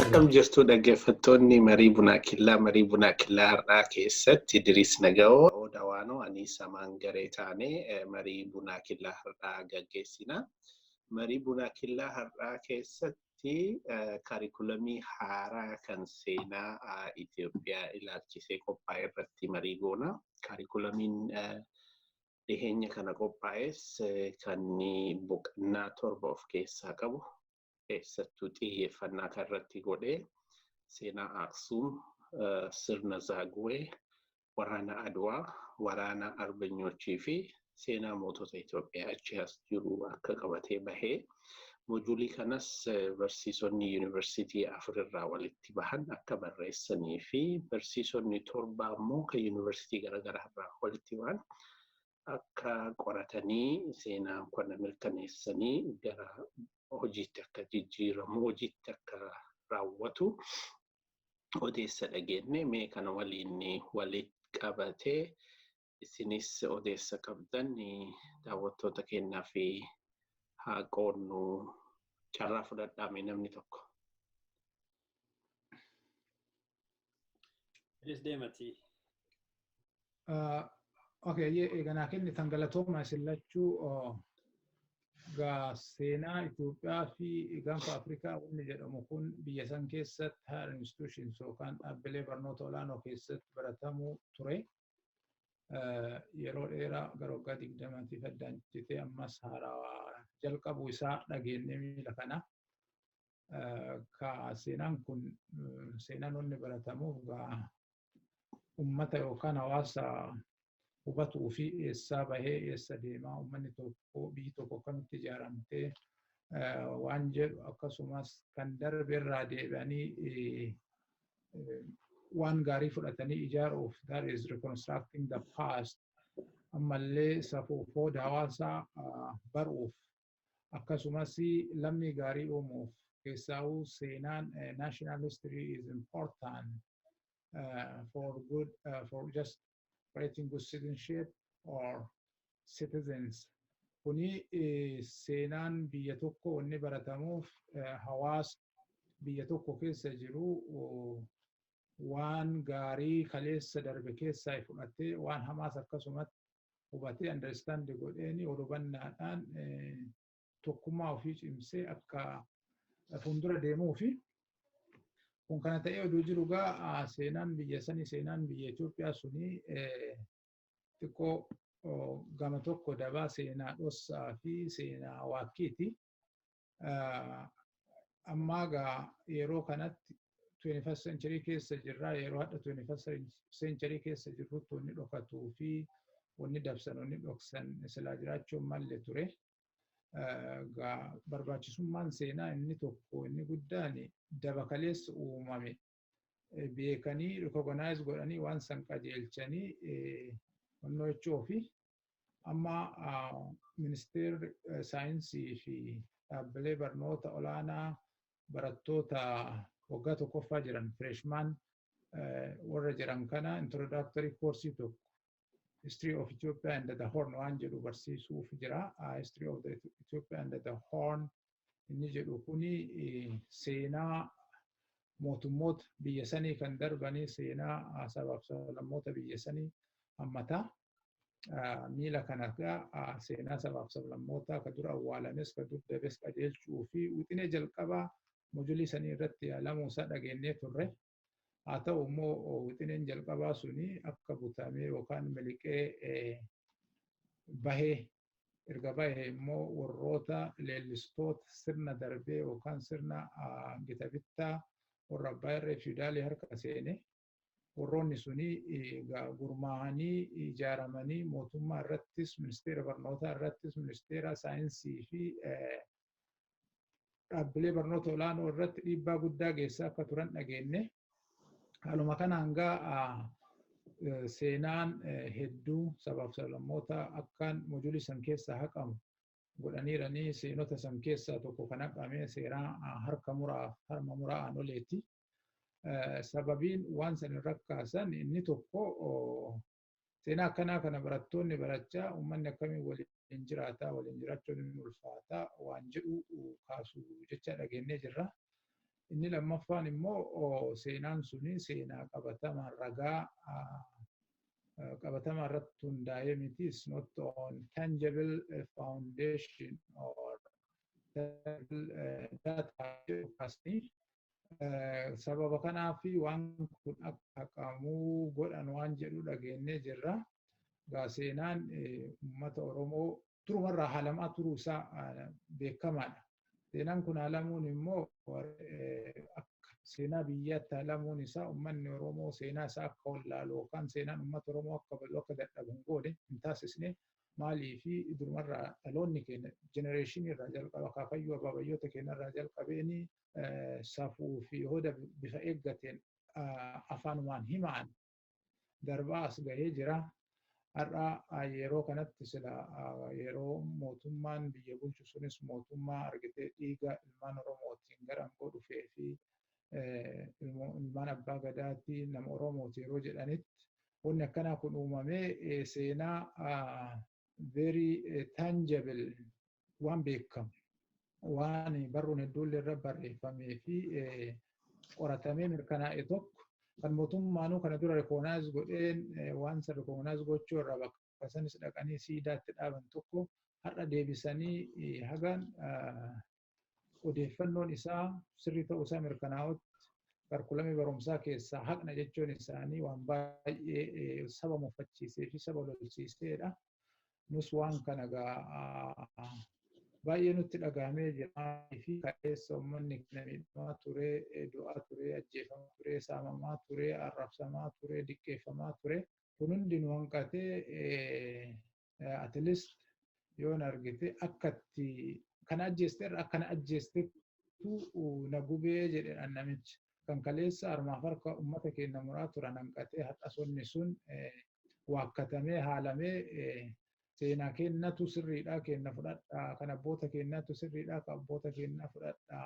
Akkam jirtu dhaggeeffattoonni marii bunaa killaa marii bunaa killaa har'aa keessatti Idiriis Nagawoo Oda Waanoo anii samaan garee taane marii bunaa killaa har'aa gaggeessina. Marii bunaa killaa har'aa keessatti kaarikulamii haaraa kan seenaa Itoophiyaa ilaalchisee qophaa'e irratti marii goona. Kaarikulamiin dhiheenya kana qophaa'es kan boqonnaa torba of keessaa qabu keessattuu xiyyeeffannaa kan irratti godhe seenaa Aksuum, sirna Zaaguwee, waraana Adwaa, waraana Arbanyoochii fi seenaa mootota Itoophiyaa achi as jiru akka qabatee bahee Moojulii kanas barsiisonni yuunivarsiitii afur irraa walitti bahan akka barreessanii fi barsiisonni torba ammoo kan yuunivarsiitii garaagaraa irraa walitti bahan akka qoratanii seenaan kana mirkaneessanii gara hojiitti akka jijjiiramu hojiitti akka raawwatu odeessa dhageenye mee kana waliin walitti qabatee isinis odeessa qabdan daawwattoota keenyaaf haa qoodnu carraa fudhadhaame namni tokko. Please deemati. Okay, ye eeganaa kenni tan galatooma isin lachuu gaa seenaa Itoophiyaa fi gaanfa Afrikaa wanni jedhamu kun biyya san keessatti higher institutions yookaan dhaabbilee barnoota olaanoo keessatti baratamuu ture. yeroo dheeraa gara waggaa digdamatiif addaan citee ammas haarawaa jalqabu isaa dhageennee miila kana. Ka seenaan kun seenaan wanni baratamuuf gaa ummata yookaan hawaasa hubatuu fi eessaa bahee eessa deemaa ummanni tokko biyyi tokko akkamitti ijaaramtee waan jedhu akkasumas kan darbe irraa deebi'anii waan gaarii fudhatanii ijaaruuf that is reconstructing the past ammallee safuu fooda hawaasaa baruuf akkasumas lammii gaarii uumuuf keessaawuu seenaan national history is important for good for just fighting with citizenship or citizens kuni eh, seenaan biyya tokko wanni baratamuuf eh, hawaasa biyya tokko keessa jiru oh, waan gaarii kaleessa darbe keessaa fudhatee waan hamaas akkasumatti hubatee understand godheeni ol hubannaadhaan eh, tokkummaa ofii cimsee akka fuuldura deemuu fi kun kana ta'ee oduu jiru gaa seenaan biyya sanii seenaan biyya Itoophiyaa sunii xiqqoo gama tokko dabaa seenaa dhossaa fi seenaa waakkiiti. Ammaa gaa yeroo kanatti 21st century keessa jirra yeroo hadha 21st century keessa jirrutti wanni dhokatuu fi wanni dabsan wanni dhoksan silaa jiraachuun malle ture. Barbaachisummaan seenaa inni tokko inni guddaan daba kaleessa uumame beekanii rikogonaayiz godhanii waan san qajeelchanii honnoo jechuu fi amma ministeerri saayinsii fi dhaabbilee barnoota olaanaa barattoota waggaa tokkoffaa jiran fireeshmaan warra jiran kana introdaaktarii koorsii tokko history of Ethiopia and the Horn waan jedhu barsiisuuf jira. History of the Ethiopia and the Horn inni jedhu kuni seenaa mootummoota biyya sanii kan darbanii seenaa sabaaf sablammoota biyya sanii hammata. Miila kana seenaa sabaaf sablammoota ka dura awwaalames ka dur dabes qajeelchuu fi wixinee jalqabaa mojulii sanii irratti yaalamuusaa dhageenyee turre. Haa ta'u immoo wixineen jalqabaa suni akka butamee yookaan miliqee bahee erga bahee immoo warroota leellistoota sirna darbee yookaan sirna gita bittaa warra abbaa irree fiidaalii harka seene warroonni suni gurmaa'anii ijaaramanii mootummaa irrattis ministeera barnootaa irrattis ministeera saayinsii fi dhaabbilee barnoota olaanoo irratti dhiibbaa guddaa geessaa akka turan dhageenne. Haaluma kana hanga seenaan hedduu sabaaf sablammoota akkaan mojuulii san keessaa haqamu godhaniiranii seenota san keessaa tokko kan haqame seeraa harka muraa harma muraa aanoleeti. Sababiin waan san irra kaasan inni tokko Seenaa akkanaa kana barattoonni barachaa uummanni akkamiin waliin jiraataa, waliin jiraachuun hin ulfaataa waan jedhu kaasu jechaa dhageennee jirra. Inni lammaffaan immoo seenaan suni seenaa qabatamaa ragaa qabatamaa irratti hundaa'ee miti is not on tangible foundation or data kaasanii sababa kanaaf waan kun akka haqamu godhan waan jedhu dhageenyee jirra. Egaa seenaan uummata Oromoo durumarraa haalamaa turuu isaa beekamaadha. Seenaan kun haalamuun immoo akka seenaa biyyaatti haalamuun isaa uummanni Oromoo seenaa isaa akka wallaalu yookaan seenaan uummata Oromoo akka badu akka dadhabu hin goone hin taasisne maalii fi durumarraa dhaloonni keenya jenereeshinii irraa jalqaba akaakayyuu abaabayyoota keenya irraa jalqabeenii safuu fi hooda bifa eeggateen afaanumaan himaan darbaa as gahee jira. Har'a yeroo kanatti sila yeroo mootummaan biyya bulchu sunis mootummaa argitee dhiiga ilmaan Oromootiin gara aangoo dhufee fi ilmaan abbaa gadaati nama Oromooti yeroo jedhanitti wanni akkanaa kun uumamee seenaa very tangible waan beekamu waan barruun hedduullee irra barreeffamee fi qoratamee mirkanaa'e tokko kan mootummaanuu kana dura rikoonaayiz godheen waan san rikoonaayiz gochuu irraa bakka sanis dhaqanii siidaatti dhaaban tokko har'a deebisanii hagaan odeeffannoon isaa sirrii ta'uu isaa mirkanaa'utti barkulamee barumsaa keessaa haqna jechuun isaanii waan baay'ee saba muffachiisee fi saba lolsiiseedha. nus waan kana gaa baay'ee nutti dhagahamee jira fi kaleessa uummanni kana miidhamaa ture du'aa ture ajjeefamaa ture saamamaa ture arrabsamaa ture diqqeeffamaa ture kun hundi nu hanqatee at least yoon argite akkatti kana ajjeeste irra akkana ajjeestetu na gubee jedhedhaan namichi kan kaleessa harmaaf harka ummata keenna muraa turan hanqatee har'as wanni sun waakkatamee haalamee seenaa keennatu sirriidha keenna fudhadha kan abboota keennaatu sirriidha kan abboota keennaa fudhadha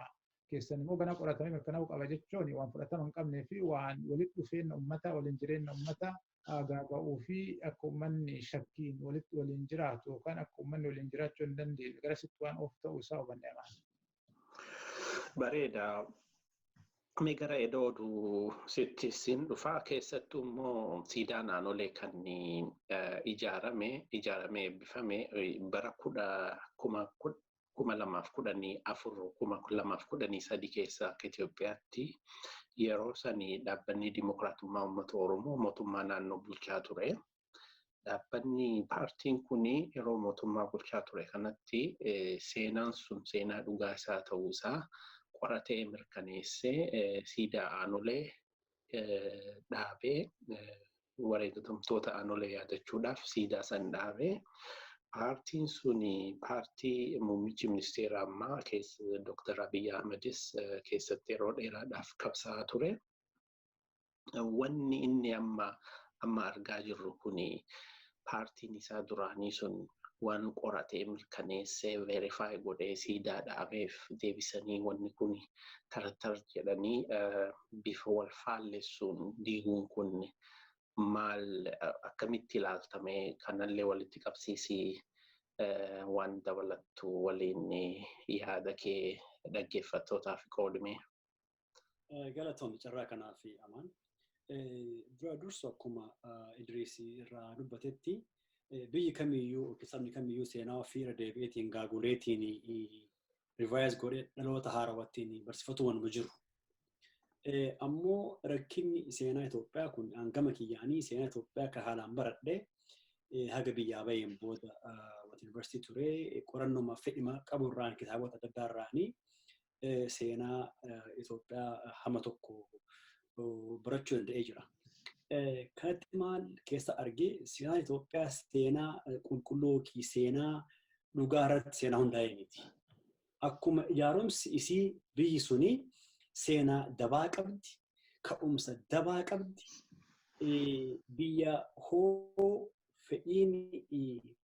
keessan immoo gana qoratamee mirkanaa'uu qaba jechuun waan fudhatama hin qabnee fi waan walitti dhufeenna ummataa waliin jireenna ummataa faagaaga'uu fi akka ummanni shakkiin walitti waliin jiraatu yookaan akka ummanni waliin jiraachuu hin dandeenye garasitti waan oofu ta'uu isaa hubanne amaana. Bareeda. Mee gara edoo oduu sitti siin dhufaa keessattuu immoo siidaa naannolee kan ijaarame ijaaramee eebbifame bara kuma kuma lamaaf kudhanii afur kuma lamaaf kudhanii sadi keessa akka Itoophiyaatti yeroo sani dhaabbanni Dimokiraatummaa Uummata Oromoo mootummaa naannoo bulchaa ture. Dhaabbanni paartiin kun yeroo mootummaa bulchaa ture kanatti seenaan sun seenaa dhugaa isaa ta'uu isaa qoratee mirkaneessee siidaa aanolee dhaabee wareegatamtoota aanolee yaadachuudhaaf siidaa san dhaabee paartiin sun paartii muummichi ministeera ammaa Dr. Abiy Ahmedis keessatti yeroo dheeraadhaaf qabsaa ture. Wanni inni amma amma argaa jirru kun paartiin isaa duraanii sun waan qoratee mirkaneessee verify godhee siidaa dhaabeef deebisanii wanni kun tartar jedhanii bifa wal faallessuun diiguun kun maal akkamitti ilaaltame kanallee walitti qabsiisii waan dabalattu waliin yaada kee dhaggeeffattootaaf qoodime. Galatoomi carraa kanaa fi amaan. Dura dursu akkuma Idriisii irraa dubbatetti biyyi kamiyyuu yookiin sabni kamiyyuu seenaa ofii irra deebi'eetiin gaaguleetiin rivaayiz godhee dhaloota haarawattiin barsiifatu wanuma jiru. Ammoo rakkinni seenaa Itoophiyaa kun hangama kiyyaanii seenaa Itoophiyaa kan haalaan baradhee haga biyyaa baheen booda wata yuunivarsiitii ture qorannoomaaf fedhima qabu irraan kitaabota adda addaa irraanii seenaa Itoophiyaa hama tokko barachuu danda'ee jira. Kanatti maal keessa argee seenaa Itoophiyaa seenaa qulqulluu yookiin seenaa dhugaa irratti seenaa hundaa'e miti. Akkuma ijaarumsi isii biyyi suni seenaa dabaa qabdi, ka'umsa dabaa qabdi, biyya hoo fedhiin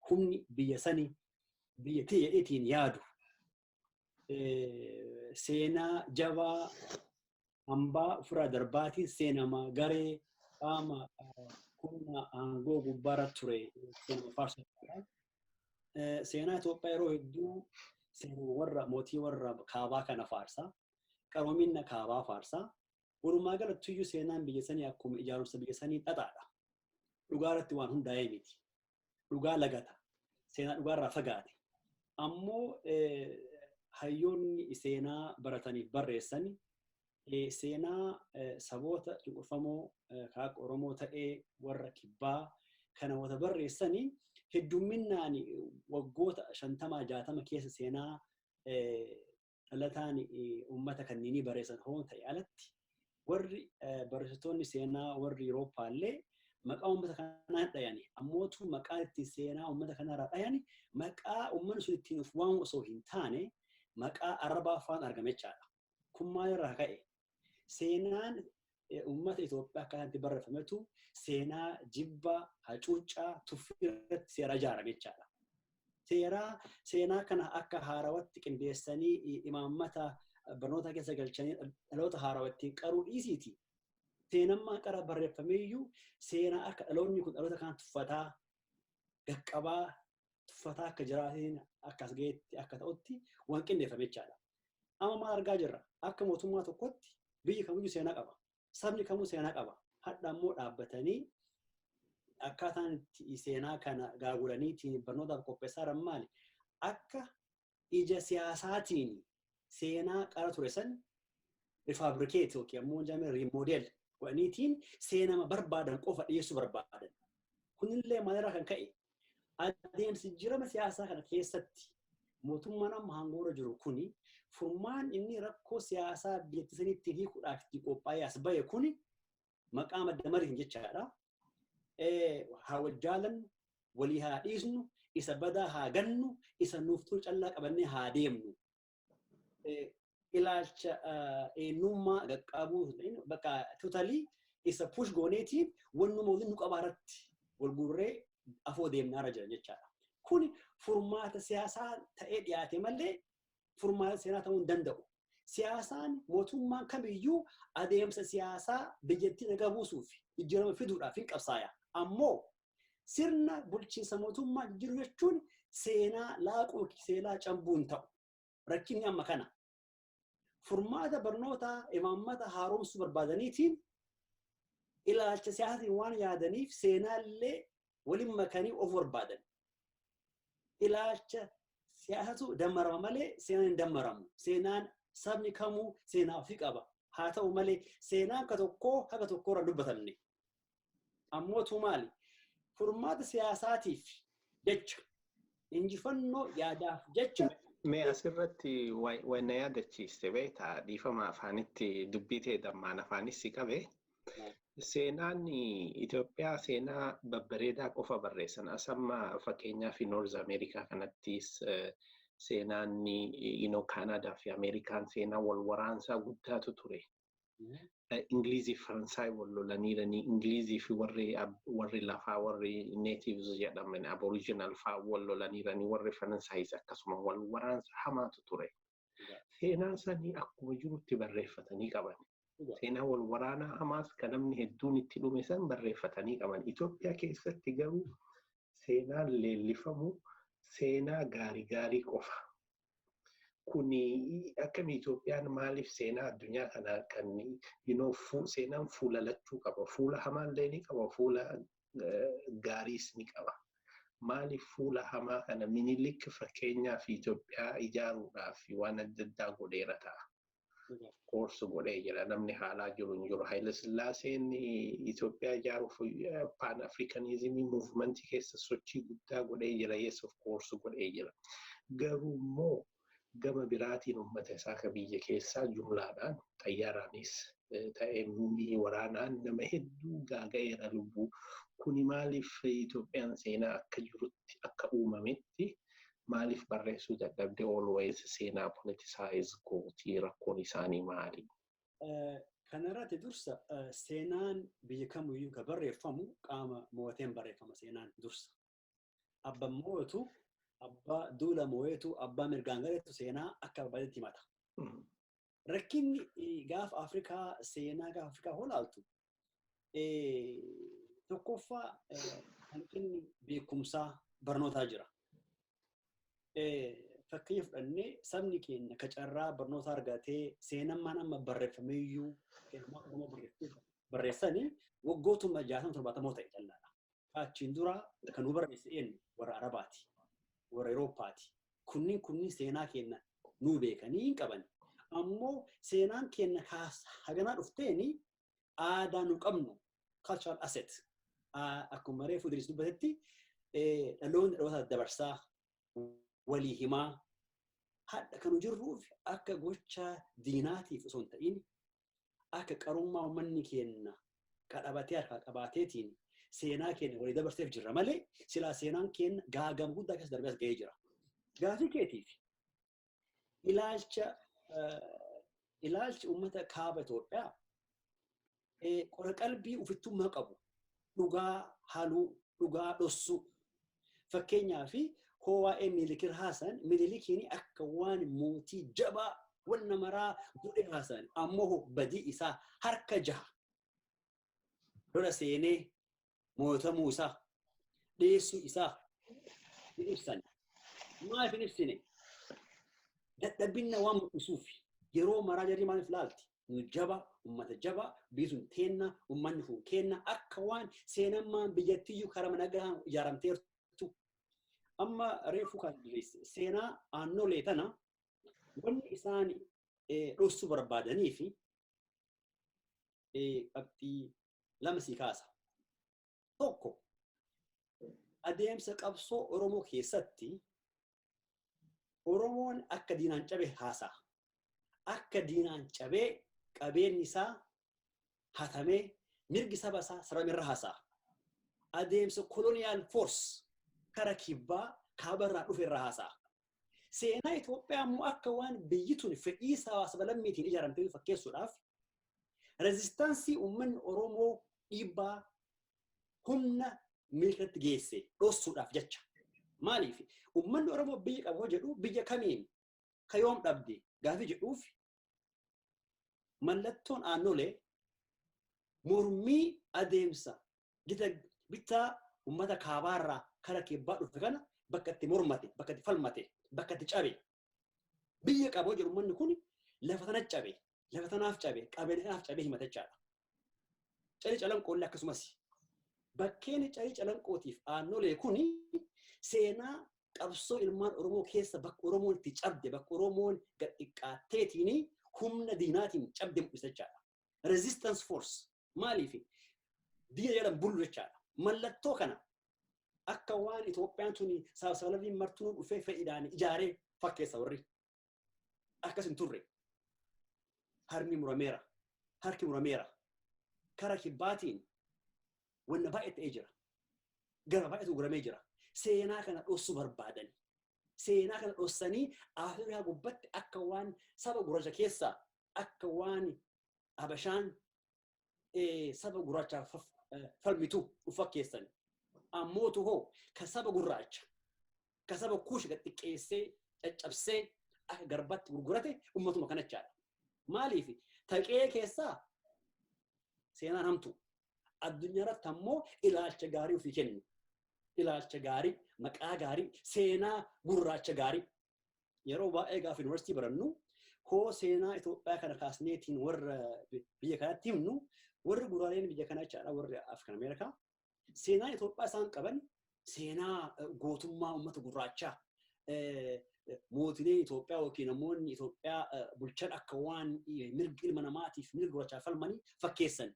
humni biyya sanii biyya ta'eetiin yaadu seenaa jabaa hambaa ofirraa darbaatiin seenama garee qaama humna aangoo gubbaarra ture seenama faarsuudha. Seenaa Itoophiyaa yeroo hedduu seenaa warra mootii warra kaabaa kana faarsa. Qaroomina kaabaa faarsa. Walumaa galattuyyuu seenaan biyya sanii akkuma ijaarumsa biyya sanii xaxaadha. Dhugaa irratti waan hundaa'ee miti. dhugaa lagata. Seenaa dhugaarraa fagaate. Ammoo hayyoonni seenaa barataniif barreessan seenaa saboota cunqurfamoo kaak Oromoo ta'ee warra kibbaa kana wata barreessanii heddumminaan waggoota shantamaa jaatama keessa seenaa dhalataan uummata kanneenii barreessan hoo ta'e alatti warri barreessitoonni seenaa warri Yurooppaa illee maqaa uummata kanaa hin dhayani. Ammootu maqaa itti seenaa uummata kanarraa dhayani maqaa uummanni sun ittiin of waamu osoo hin taane maqaa arabaa faan argame jechaadha. Kun maalirraa ka'e? Seenaan uummata Itoophiyaa akka kanatti barreeffametu seenaa jibba, hacuuccaa, tuffii irratti seeraa ijaarame jechaadha. Seeraa seenaa kana akka haarawatti qindeessanii imaammata barnoota keessa galchanii dhaloota haarawa ittiin qaruu dhiisiiti. Seenammaa qara barreeffameeyyuu seenaa akka dhaloonni kun dhaloota kana tuffataa, gaqqabaa, tuffataa akka jiraatiin akka as ga'etti akka ta'utti waan qindeeffame jechaadha. Amma maal argaa jirra? Akka mootummaa tokkotti biyyi kamiyyuu seenaa qaba. Sabni kamuu seenaa qaba. Hadha immoo dhaabbatanii akkaataan itti seenaa kana gaagulanii ittiin barnootaaf qopheessaa jiran maali? Akka ija siyaasaatiin seenaa qara ture san rifabrikeet yookiin ammoo jaamee riimoodeel godhaniitiin seenama barbaadan qofa dhiyeessuu barbaadan. Kunillee maalirraa kan ka'e adeemsi jirama siyaasaa kana keessatti mootummaan amma hangoora jiru kuni furmaan inni rakkoo siyaasaa biyyattii saniitti hiikuudhaaf itti qophaa'ee as ba'e kuni maqaa madda mariin jechaadha. Haa wal jaalannu, walii haa dhiisnu, isa badaa haa gannu, isa nuuf tolu callaa qabannee haa deemnu. Ilaalcha eenyummaa qaqqabuu bakka tutalii isa push gooneetii wannuma waliin nu qabaarratti wal guurree afoo deemnaarra jiran jechaadha. Kun furmaata siyaasaa ta'ee dhiyaate malee furmaata seenaa ta'uu hin danda'u. Siyaasaan mootummaan kamiyyuu adeemsa siyaasaa biyyattii nagaa buusuuf jijjiirama fiduudhaaf hin qabsaaya. Ammoo sirna bulchiinsa mootummaa jijjiiruu jechuun seenaa laaquu seelaa cambuu hin ta'u. Rakkinni amma kana. Furmaata barnootaa imaammata haaromsuu barbaadaniitiin ilaalcha siyaasaatiin waan yaadaniif seenaallee waliin makanii of barbaadan. Ilaalcha siyaasatu dammarama malee seenaan hin dammaramu. Seenaan sabni kamuu seenaa ofii qaba. Haa ta'u malee seenaan ka tokkoo haga tokkorra dubbatamne. Ammootu maali? Furmaata siyaasaatiif jecha Injifannoo yaadaaf jecha. Mee asirratti waan na yaadachiiste beektaa dhiifama afaanitti dubbii ta'e dammaan afaanis si qabe. Seenaan Itoophiyaa seenaa babbareedaa qofa barreessan. As amma fakkeenyaa fi Noorz Ameerikaa kanattis seenaan Kaanaadaa fi Ameerikaan seenaa wal waraansaa guddaatu ture. Ingilizii fi Faransaay wal lolaniiranii Ingilizii fi warri warri lafaa warri natives jedhaman aboriginal faa wal lolaniiranii warri Faransaayis akkasuma wal waraansa hamaatu ture. Seenaa sanii akkuma jirutti barreeffatanii qaban. Seenaa wal waraanaa hamaas kan namni hedduun itti dhume san barreeffatanii qaban. Itoophiyaa keessatti garuu seenaan leellifamu seenaa gaarii gaarii qofa. Kuni akkami Itoophiyaan maaliif seenaa addunyaa kanaa kan seenaan fuula lachuu qaba. Fuula hamaallee ni qaba, fuula gaariis ni qaba. Maaliif fuula hamaa kana minilik fakkeenyaaf Itoophiyaa ijaaruudhaaf waan adda addaa godheera ta'a. koorsu godhee jira namni haalaa jiru hin jiru. Haayila Sillaaseen Itoophiyaa ijaaruuf paan Afrikanizimii muuvimentii keessa sochii guddaa godhee jira yes of course godhee jira. Garuu immoo gama biraatiin uummata isaa ka biyya keessaa jumlaadhaan xayyaaraanis ta'ee muumii waraanaan nama hedduu gaaga'eera lubbuu. Kuni maaliif Itoophiyaan seenaa akka jirutti akka uumametti Maaliif barreessuu dadhabde always seenaa politicize gootii rakkoon isaanii maali? Kanarratti dursa seenaan biyya kamiyyuu kan barreeffamu qaama moo'ateen barreeffama seenaan dursa. Abba moo'atu abbaa duula moo'eetu abbaa mirgaan galeetu seenaa akka barbaadetti himata. rakkinni gaafa Afrikaa seenaa gaafa Afrikaa holaaltu tokkoffaa hanqinni beekumsaa barnootaa jira. Fakkeenya fudhannee sabni keenya ka carraa barnoota argatee seenammaan amma barreeffamee iyyuu seenammaa Oromoo barreessanii waggootuma jaatama torbaatamoo ta'e callaadha. Ka achiin dura kan nu barreesse eenyu? Warra Arabaati. Warra Erooppaati. Kunniin kunniin seenaa keenna nuu beekanii hin qaban. Ammoo seenaan keenna kaas haganaa dhufteeni aadaa nu qabnu cultural asset akkuma reefu Idris dubbatetti dhaloonni dhaloota dabarsaa walii himaa hadha kan jirruuf akka gocha diinaatiif osoo hin ta'in akka qarummaa ummanni keenna qadhabatee harkaa qabaateetiin seenaa keenna walii dabarseef jirra malee silaa seenaan keenna gaagama guddaa keessa darbee as ga'ee jira. Gaafii keetiif ilaalcha ilaalchi uummata kaaba Itoophiyaa qora qalbii ofittummaa qabu dhugaa haluu, dhugaa dhossuu. Fakkeenyaaf hoo waa'ee Miilikir haasan Minilikiin akka waan mootii jabaa wan namaraa godhe haasan ammoo badii isaa harka jaha lola seenee mootamuu isaa dhiyeessuu isaa hin ibsan. Maaf hin ibsine? Dadhabinna waan mul'isuuf yeroo maraa jarri maaliif laalti? nu jaba ummata jaba biisun teenna ummanni kun keenna akka waan seenammaan biyyattiyyuu karama nagahaan ijaaramteertu amma reefu kan seenaa aannolee tana wanni isaan dhossuu barbaadanii fi qabxii lama sii kaasa. tokko adeemsa qabsoo Oromoo keessatti Oromoon akka diinaan cabe haasa'a. Akka diinaan cabee qabeenyi isaa hatamee mirgi saba isaa saramerra haasa'a. Adeemsa koloniyaal foors kara kibbaa kaabarraa dhufe irra haasa'a. Seenaa Itoophiyaa immoo akka waan biyyi tun fedhii sabaa-sablammiitiin ijaaramtee fakkeessuudhaaf rezistaansii uummanni Oromoo dhiibbaa humna miilkatti geesse dhossuudhaaf jecha. Maaliif uummanni Oromoo biyya qaba hoo jedhu biyya kamiin ka yoom dhabde gaafii jedhuuf mallattoon aannolee mormii adeemsa gita bittaa ummata kaabaarraa kara kibbaa dhufe kana bakka itti mormate, bakka itti falmate, bakka itti cabe. Biyya qaboo jedhu ummanni kun lafa tana cabe, lafa tanaaf cabe, qabeenya kanaaf cabe himata jechaadha. Carii calanqoolle akkasumas bakkeen carii calanqootiif aannolee kun seenaa qabsoo ilmaan Oromoo keessa bakka Oromoon itti cabde bakka Oromoon gad xiqqaatteetiin humna diinaatiin cabde mul'isa jechaadha. Resistance force maaliif diina jalan bullu jechaadha. Mallattoo kana akka waan Itoophiyaan tuni saabsaalabiin martuu dhufee fedhiidhaan ijaaree fakkeessa warri. akkas hin turre harmi murameera harki murameera kara kibbaatiin wanna baay'ee ta'ee jira gara baay'eetu guramee jira seenaa kana dhossuu barbaadan seenaa kana dhossanii afrikaa gubbatti akka waan saba gurraacha keessaa akka waan habashaan saba gurraachaa falmitu dhufa keessan. Ammootu hoo ka saba gurraacha ka saba kuushi gad xiqqeessee caccabsee akka garbaatti gurgurate ummatuma kanachaadha. Maaliif taqee keessaa seenaan hamtu addunyaa irratti ammoo ilaalcha gaarii ofii kennu. Ilaalcha gaarii, maqaa gaarii, seenaa gurraacha gaarii. yeroo baay'ee gaafa yuunivarsiitii barannu koo seenaa Itoophiyaa kana kaasneetiin warra biyya kanatti himnu warri guraaleen biyya kanaa jechaadha warri Afrikan Ameerikaa seenaan Itoophiyaa isaan qaban seenaa gootummaa uummata gurraachaa mootileen Itoophiyaa yookiin namoonni Itoophiyaa bulchan akka waan mirga ilma namaatiif mirga gurraachaa falmanii fakkeessan.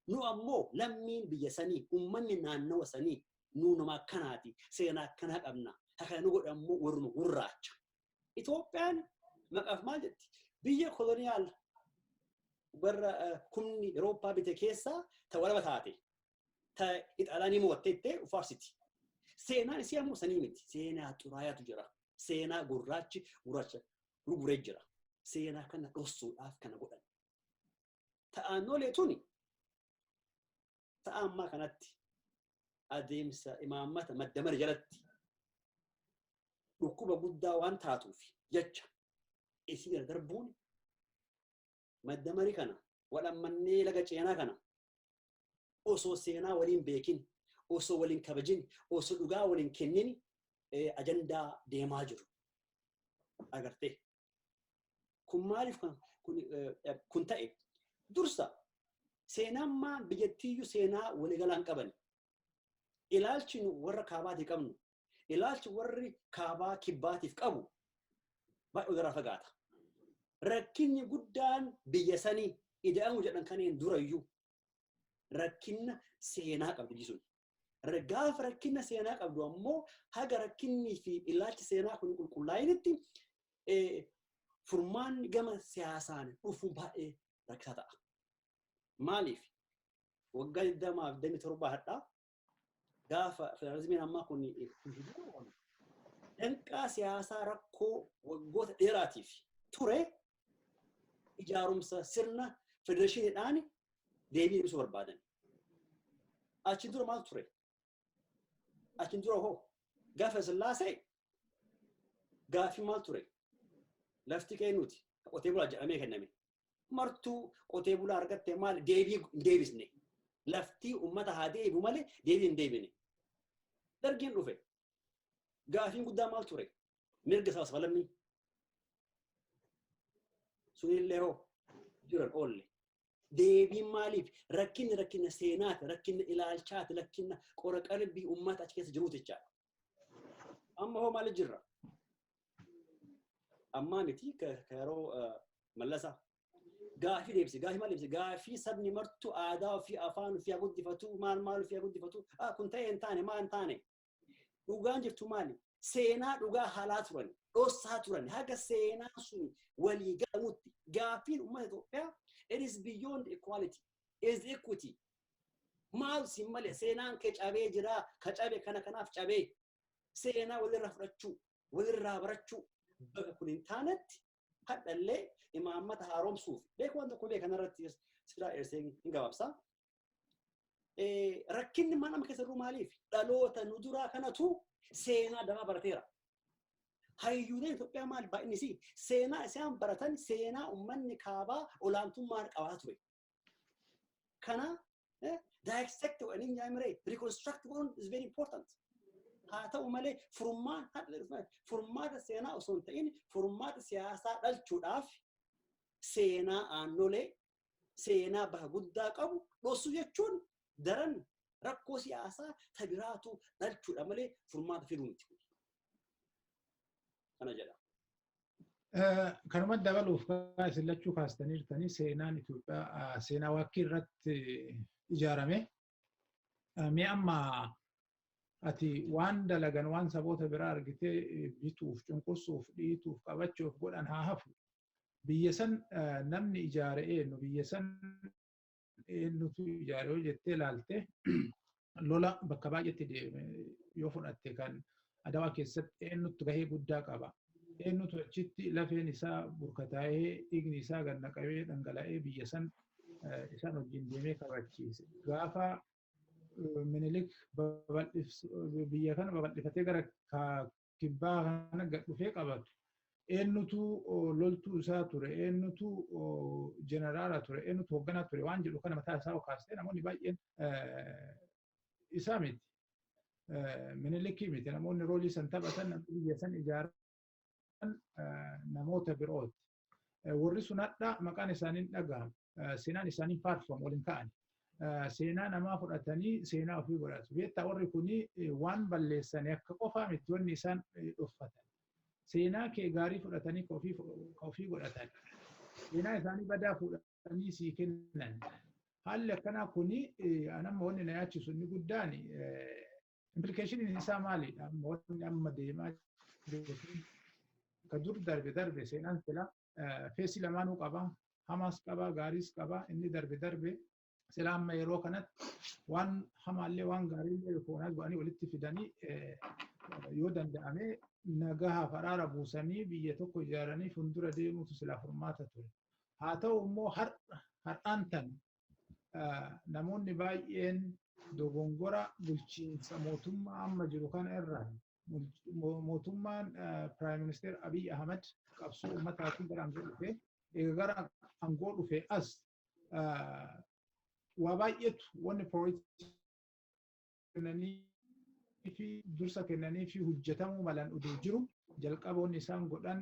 Nu ammoo lammiin biyya sanii uummanni naannawa sanii Nuu nama akkanaati. Seenaa akkanaa qabna. Hakan nu godhan immoo warruma gurraacha. Itoophiyaan maqaaf maal jetti? Biyya koloniyaal warra humni Awurooppaa bite keessaa ta walaba taate. Ta Ixaalaanii moo'atte ittee faarsiti. Seenaan isii ammoo sanii miti. Seenaa xuraayaatu jira. Seenaa gurraachi gurraacha gurguree jira. Seenaa kana dhossuudhaaf kana godhan. ta'aannolee tuni ta'a ammaa kanatti adeemsa imaammata madda mari jalatti dhukkuba guddaa waan taatuuf jecha isii irra darbuun madda mari kana wadhammannee laga ceenaa kana osoo seenaa waliin beekin osoo waliin kabajin osoo dhugaa waliin kennin ajandaa deemaa jiru agartee Kun maaliif kan kun, eh, kun ta'e? Dursa seenammaa biyyattiiyyuu seenaa waliigalaa hin qabani. Ilaalchi nu warra kaabaatii qabnu, ilaalchi warri kaabaa kibbaatiif qabu baay'ee walirraa fagaata. Rakkinni guddaan biyya sanii ida'amuu jedhan kaneen durayyuu rakkinna seenaa qabdi biyyi sun. Ra- Gaafa rakkinna seenaa qabdu ammoo haga rakkinnii fi ilaalchi seenaa kun qulqullaa'initti eh, furmaan gama siyaasaan dhufu baay'ee rakkisaa ta'a. Maaliif? Waggaa 27 hadhaa gaafa federaalizimiin ammaa kun danqaa siyaasaa rakkoo waggoota dheeraatiif ture ijaarumsa sirna federeeshiniidhaan deebii ibsuu barbaadan. Achiin dura maal ture? Achiin dura hoo gaafa sillaasee gaaffii maal ture? Lafti qeennuuti qotee bulaa jedhamee kenname. martuu qotee bulaa argatte maal deebii hin deebisne. Laftii uummata haa deebi'u malee deebii hin deebine. Dargiin dhufe. Gaafiin guddaa maal ture? Mirga sabas falammii. Sunillee hoo jiran oolle. Deebiin maaliif? Rakkinni rakkina seenaati, rakkina ilaalchaati, rakkina qora qalbii uummata achi keessa jiruuti jechaadha. Amma hoo maal jirra? Ammaa miti ka ka yeroo eh, mallasaa. Gaafii deebise, gaafii maal deebise? Gaafii sabni martuu aadaa ofii afaan ofii haa guddifatu, maal maal ofii haa guddifatu, ah kun ta'e hin taane, maal hin taane. Dhugaan jirtu maali? Seenaa dhugaa haalaa turan, dhossaa turan, haga seenaa sun walii galamutti. Gaafiin uummata Itoophiyaa, it is beyond equality, it is equity. Maal siin malee seenaan kee cabee jira ka cabe kana kanaaf cabee seenaa walirraa fudhachuu walirraa barachuu bakka kun hin taanetti hadhallee imaammata haaromsuuf beeku waan tokko beekan irratti sidaa dheessee hin gabaabsaa. Rakkinni mana nama keessa jiru maaliif dhaloota nu duraa kanatu seenaa damaa barateera. hayyuuleen Itoophiyaa maal baay'inni isii seenaa isaan baratan seenaa uummanni kaabaa olaantummaan qabaa ture. Kana eh, dissect godhanii hin yaamire reconstruct godhuun is very important. Haa ta'u malee furmaata furmaata seenaa osoo hin ta'in furmaata siyaasaa dhalchuudhaaf seenaa aannolee seenaa baha guddaa qabu dhoosu jechuun daran rakkoo siyaasaa ta biraatu dhalchuudha malee furmaata fiduu miti. Kana jedha. Kanuma dabaluuf isin lachuu kaastaniirtanii seenaan Itoophiyaa seenaa waakkii irratti ijaarame. Mee amma ati waan dalagan waan saboota biraa argitee bituuf, cunqursuuf, dhiituuf, qabachuuf godhan haa hafu. Biyya san namni ijaare eenyu? Biyya san eenyutu ijaare yoo jettee ilaalte lola bakka baay'eetti deeme yoo fudhatte kan adawaa keessatti eenyutu gahee guddaa qaba. Eenyutu achitti lafeen isaa burkataa'ee dhiigni isaa gad naqamee dhangala'ee biyya san isaan wajjin deemee kabachiise. Gaafa minilik biyya kana babal'ifatee gara kibbaa kana gad dhufee qabatu eenyutu loltuu isaa ture eenyutu jeneraala ture eenyutu hoogganaa ture waan jedhu kana mataa isaa kaasee namoonni baay'een isaa miti minilikii miti namoonni roolii san taphatan biyya san ijaaran namoota birooti. Warri sun hadhaa maqaan isaanii hin dhaga'amu. Seenaan isaanii hin faarfamu ol hin ka'an. Seenaa namaa fudhatanii seenaa ofii godhatu. Beektaa warri kun waan balleessanii akka qofaa miti wanni isaan dhoffatan. Seenaa kee gaarii fudhatanii ka ofii ka ofii godhatan. Seenaa isaanii badaa fuudhanii sii kennan. Haalli akkanaa kun anamma wanni na yaachisu inni guddaan Implikeeshiniin isaa maalidha? Moonni amma deemaa jiru kun ka dur darbe darbe seenaan sila feesii lamaanuu qaba. Hamaas qaba, gaariis qaba. Inni darbe darbe sila amma yeroo kanatti waan hamaallee waan gaariillee rikoonaas godhanii walitti fidanii yoo danda'ame nagaha faraara buusanii biyya tokko ijaaranii fuuldura deemuutu silaa furmaata ture. Haa ta'u immoo har'aan tan namoonni baay'een dogongora bulchiinsa mootummaa amma jiru kana irraa mootummaan Piraayim Ministeer Abiy Ahmed qabsoo ummataatiin gara aangoo dhufe egaa gara aangoo dhufe as waa baay'eetu wanni pirooyitii kennaniifi dursa kennaniifi hojjetamuu malan odoo jiru jalqaba wanni isaan godhan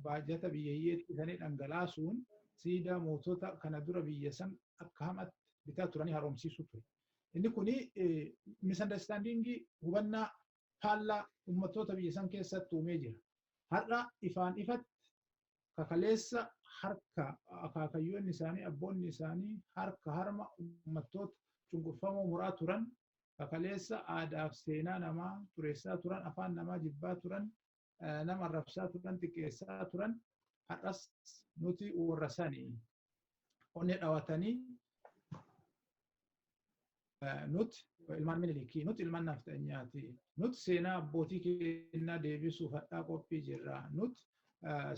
baajata biyya hiyyeetti sanii dhangalaasuun siidaa mootota kana dura biyya san akka hamaatti bitaa turanii haaromsiisuu ture. Inni kun misunderstandingii hubannaa faallaa ummattoota biyya san keessatti uumee jira. Har'a ifaan ifatti ka kaleessa harka akaakayyoonni isaanii abboonni isaanii harka harma ummattoota cunqurfamoo muraa turan ka kaleessa aadaaf seenaa namaa xureessaa turan afaan namaa jibbaa turan nama arrabsaa turan xiqqeessaa turan har'as nuti warra sanii onne dhawatanii nut ilmaan minilikii nut ilmaan nafxanyaati nut seenaa abbootii keenyaa deebisuuf hadhaa qophii jirra nut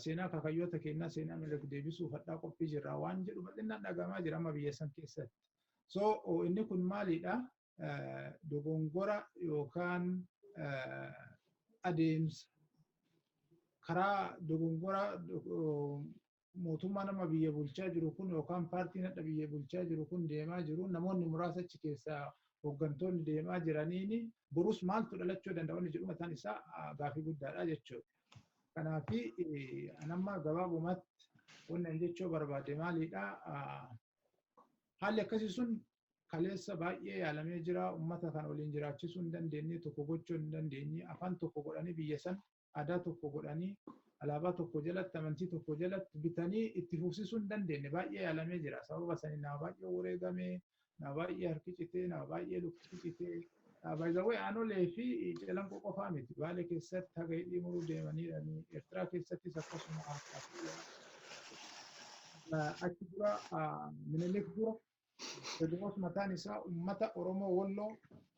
seenaa kakayyoota keenyaa seenaa minilik deebisuuf hadhaa qophii jirra waan jedhu bal'inaan dhagahamaa jira amma biyya san keessatti so inni kun maalidha dogongora yookaan adeemsa karaa dogongora mootummaa nama biyya bulchaa jiru kun yookaan paartiin hadha biyya bulchaa jiru kun deemaa jiru namoonni muraasa achi keessaa hooggantoonni deemaa jiraniin borus maaltu dhalachuu danda'a wanni jedhu mataan isaa gaafii guddaadha jechuudha. Kanaaf anamma gabaabumatti wanni jechuu barbaade maalidha haalli akkasii sun kaleessa baay'ee yaalamee jira ummata kan waliin jiraachisuu hin dandeenye tokko gochuu hin dandeenye afaan tokko godhanii biyya san aadaa tokko godhanii alaabaa tokko jalatti amantii tokko jalatti bitanii itti fufsisuu hin dandeenye baay'ee yaalamee jira sababa sanii nama baay'ee wareegame nama baay'ee harki citee nama baay'ee lukti citee baay'ee aanolee fi calanqoo qofaa miti baale keessatti haga hidhii muruu deemaniirani eertiraa keessattis akkasuma achi dura minilik dura Teediroos mataan isaa uummata Oromoo Wolloo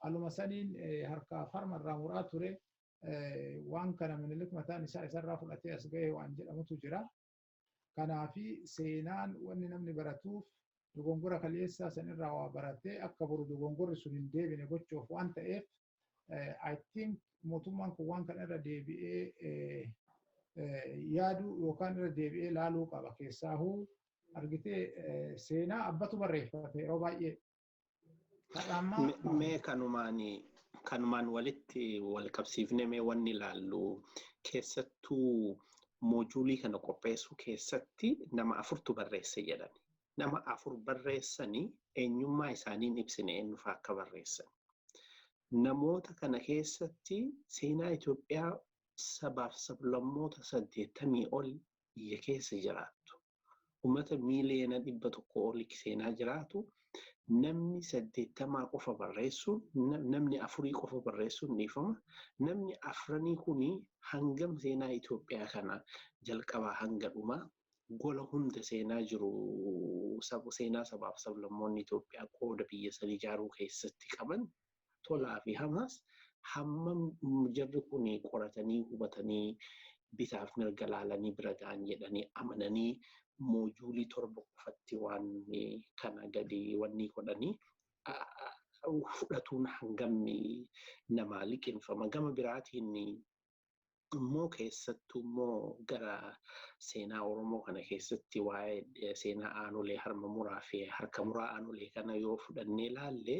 aluma saniin harkaa fi harma irraa muraa ture. Waan kana Minilik mataan isaa isarraa fudhatee as gahe waan jedhamutu jira. Kanaaf seenaan wanni namni baratuuf dogongora kaleessaa sanirraa waa baratee akka boru dogongorri sun hin deebine gochuuf waan ta'eef I think mootummaan kun waan kana irra deebi'ee yaaduu yookaan irra deebi'ee laaluu qaba keessaahuu argitee seenaa abbatu barreeffate yeroo baay'ee. Mee kanumaan kanumaan walitti wal qabsiifne mee wanni ilaallu keessattuu moojuulii kana qopheessuu keessatti nama afurtu barreesse jedhani. nama afur barreessanii eenyummaa isaanii hin ibsine eenyufaa akka barreessan. Namoota kana keessatti seenaa Itoophiyaa sabaaf sablammoota saddeettamii ol biyya keessa jiraattu. Uummata miiliyoona dhibba tokko ol seenaa jiraatu namni saddeettamaa qofa barreessuun namni afurii qofa barreessuun dhiifama. Namni afranii kuni hangam seenaa Itoophiyaa kana jalqabaa hanga dhumaa gola hunda seenaa jiru seenaa sabaaf sablammoonni Itoophiyaa qooda biyya san ijaaruu keessatti qaban tolaa fi hamaas hammam jarri kun qoratanii hubatanii bitaaf mirga laalanii bira ga'an jedhanii amananii moojuulii torba qofatti waan kana gadi wannii godhanii fudhatuun hangam namaa liqinfama gama biraatiin immoo keessattuu immoo gara seenaa Oromoo kana keessatti waa'ee seenaa aanolee harma muraa fi harka muraa aanolee kana yoo fudhannee ilaalle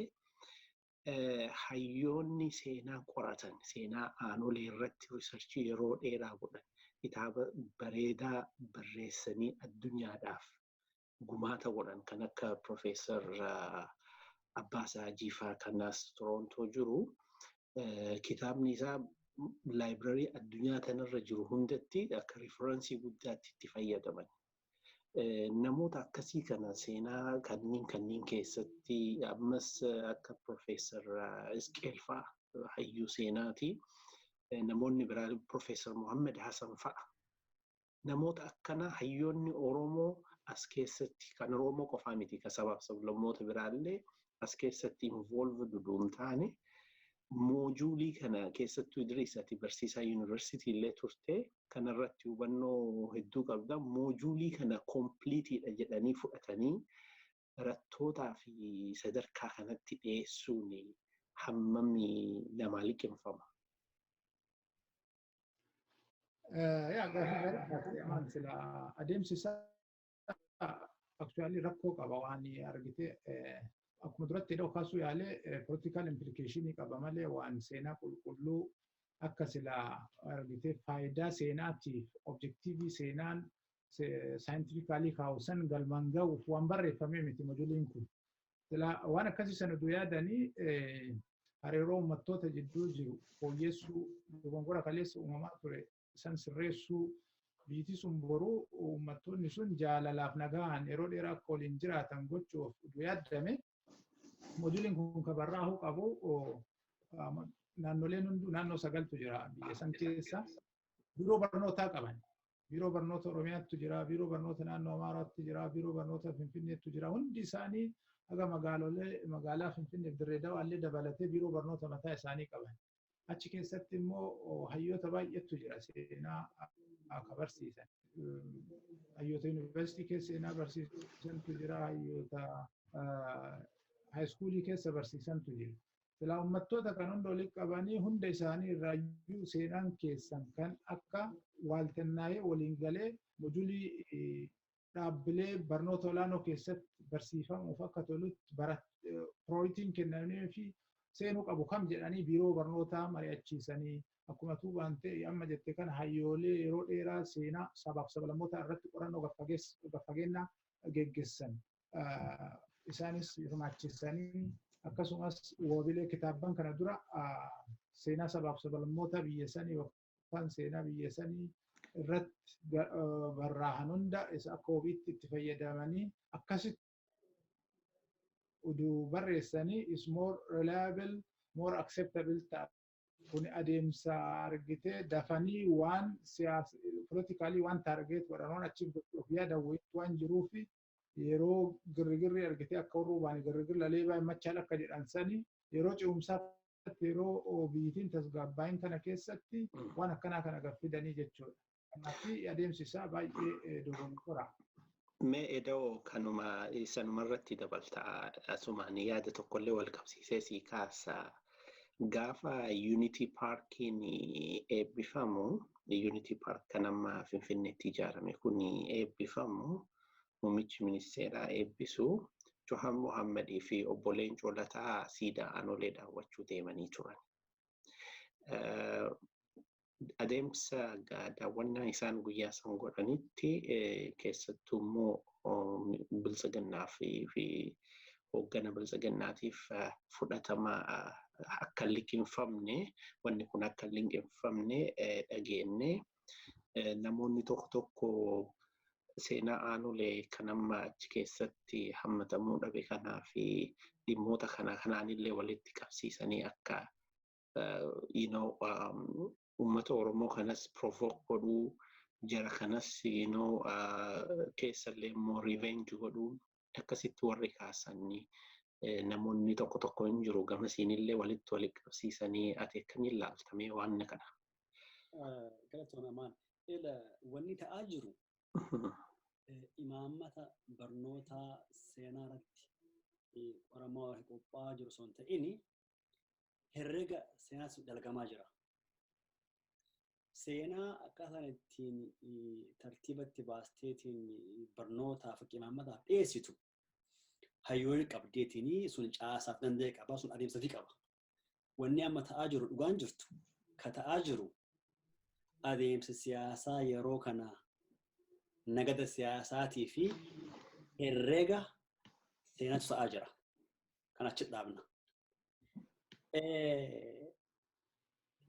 hayyoonni seenaa qoratan seenaa aanolee irratti riisarchii yeroo dheeraa godhan kitaaba bareedaa barreessanii addunyaadhaaf gumaata godhan kan akka Profeesar Abbaasaa Jiifaa kanas Torontoo jiru kitaabni isaa laayibrarii addunyaa kanarra jiru hundatti akka riiferansii guddaatti itti fayyadaman. Namoota akkasii kana seenaa kanneen kanneen keessatti ammas akka Profeesar Isqeel fa'a hayyuu seenaati. Namoonni biraa Profeesar Mohammed Hasan fa'a namoota akkanaa hayyoonni Oromoo as keessatti kan Oromoo qofaa miti kan sabaaf sablammoota biraallee as keessatti involve duduun taane moojuulii kana keessattuu Idriis ati barsiisaa yuunivarsiitii illee turte kanarratti hubannoo hedduu qabda moojuulii kana kompliitiidha jedhanii fudhatanii barattootaa fi sadarkaa kanatti dhiyeessuun hammami namaa liqimfama. Yaa gaaffii gaarii gaaffii amaan sila adeemsi isaa aktuwaalii rakkoo qaba waan argite akkuma duratti hidhoo kaasuu yaalee politikaal implikeeshinii qaba malee waan seenaa qulqulluu akka sila argite faayidaa seenaatiif objektiivii seenaan saayintifikaalii kaa'u san galmaan ga'uuf waan barreeffamee miti mojuliin kun. Silaa waan akkasii sana utuu yaadanii hariiroo uummattoota jidduu jiru fooyyessuu dogongora kaleessa uumamaa ture san sirreessuu biyyiti sun boruu uummattoonni sun jaalalaaf nagaan yeroo dheeraa akka waliin jiraatan gochuuf utuu yaadame mojuliin kun kan barraa'uu qabu naannoleen hunduu naannoo sagaltu jira biyya san keessa biiroo barnootaa qaban biiroo barnoota Oromiyaattu jira, biiroo barnoota naannoo Amaaraatti jira, biiroo barnoota Finfinneettu jira. Hundi isaanii haga magaalolee magaalaa Finfinneef Dirree Dawaallee dabalatee biiroo barnoota mataa isaanii qaban. Achi keessatti immoo hayyoota baay'eetu jira seenaa akka barsiisan. Hayyoota yuunivarsiitii keessa seenaa barsiisantu jira, hayyoota haayiskuulii keessa barsiisantu jira. Silaa ummattoota kan hunda walitti qabanii hunda isaanii irraayyuu seenaan keessan kan akka waaltannaa'ee waliin galee mojulii dhaabbilee barnoota olaanoo keessatti barsiifamuuf akka tolutti pirooritiin kennamee fi seenuu qabu kam jedhanii biiroo barnootaa mari'achiisanii akkuma tuubaan ta'e amma jette kana hayyoolee yeroo dheeraa seenaa sabaaf sablammoota irratti qorannoo gaffageennaa geggessan isaanis hirmaachisanii akkasumas wabilee kitaabban kana dura seenaa sabaaf sablammoota biyya sanii yookaan seenaa biyya sanii irratti barraahan hunda isa akka wabiitti itti fayyadamanii akkasitti uduu barreessanii is more reliable more acceptable ta'a. Kun adeemsa argitee dafanii waan siyaasa politikaalii waan taargeet godhan waan achiif godhuuf yaadan waan jiruufi yeroo girrigirri argitee akka warra ubaani girrigirri lalee baay'ee machaal akka jedhan sani yeroo ce'umsaa yeroo biyyitiin tasgaabbaayin kana keessatti waan akkanaa kana gad fidanii jechuudha. Kanaafi adeemsi isaa baay'ee dogoggora. Mee eda'oo kanuma sanuma irratti dabalta asumaan yaada tokkollee wal qabsiisee sii kaasa. Gaafa Unity Paarkiin eebbifamu Unity Paark kan amma Finfinneetti ijaarame kun eebbifamu Muummichi Ministeeraa eebbisu Johar Mohammed fi Obbo Leencoo Lataa siidaa Anolee daawwachuu deemanii turan. Adeemsa daawwannaa isaan guyyaa san godhanitti keessattuu immoo biltsiginnaa fi hooggana biltsiginnaatiif fudhatama akka hin liqimfamne wanni kun akka hin liqimfamne dhageenne namoonni tokko tokko seenaa aanolee kan amma achi keessatti hammatamuu dhabe kanaa fi dhimmoota kana kanaanillee walitti qabsiisanii akka you know uummata Oromoo kanas provoke godhuu jara kanas you know keessallee immoo revenge godhuu akkasitti warri kaasanii namoonni tokko tokko hin jiru gama siinillee walitti walitti qabsiisanii ati akkamiin laaltamee waan na kana. Galatoon amaan ila wanni ta'aa jiru imaammata barnootaa seenaa irratti qoramaa warra qophaa'aa jiru osoo hin ta'in herrega seenaas dalagamaa jira. Seenaa akkaataan ittiin tartiiba itti baasteetiin barnootaa fi qimaamataaf dhiyeessitu hayyoonni qabdeetiin sun caasaaf danda'e qaba sun adeemsa fi qaba. Wanni amma ta'aa jiru dhugaan jirtu ka ta'aa jiru adeemsa siyaasaa yeroo kana nagada siyaasaatii fi herreega seenaatu ta'aa jira. Kan achi dhaabna.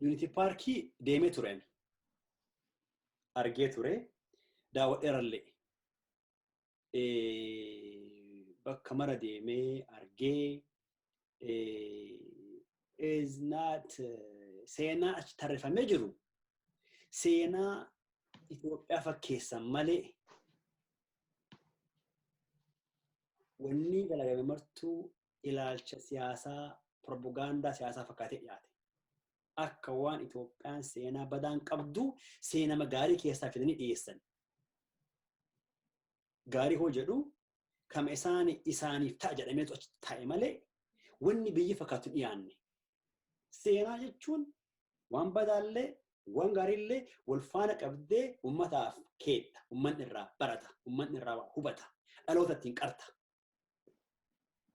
Yuunitii paarkii deemee tureen argee ture daawwadheerallee bakka mara deemee argee is not seenaa achi tarrifamee jiru seenaa Itoophiyaa fakkeessan malee wanni dalagame martuu ilaalcha siyaasaa propagaandaa siyaasaa fakkaatee dhiyaate. Akka waan Itoophiyaan seenaa badaan qabdu seenama gaarii keessaa fidanii dhiyeessan. Gaarii hoo jedhu kama isaan isaaniif ta'a jedhameetu achi taa'e malee wanni biyyi fakkaatu dhiyaanne. Seenaa jechuun waan badaallee waan gaariillee wal faana qabdee uummataaf keedha. Uummanni irraa barata. Uummanni irraa hubata. Dhaloota ittiin qarta.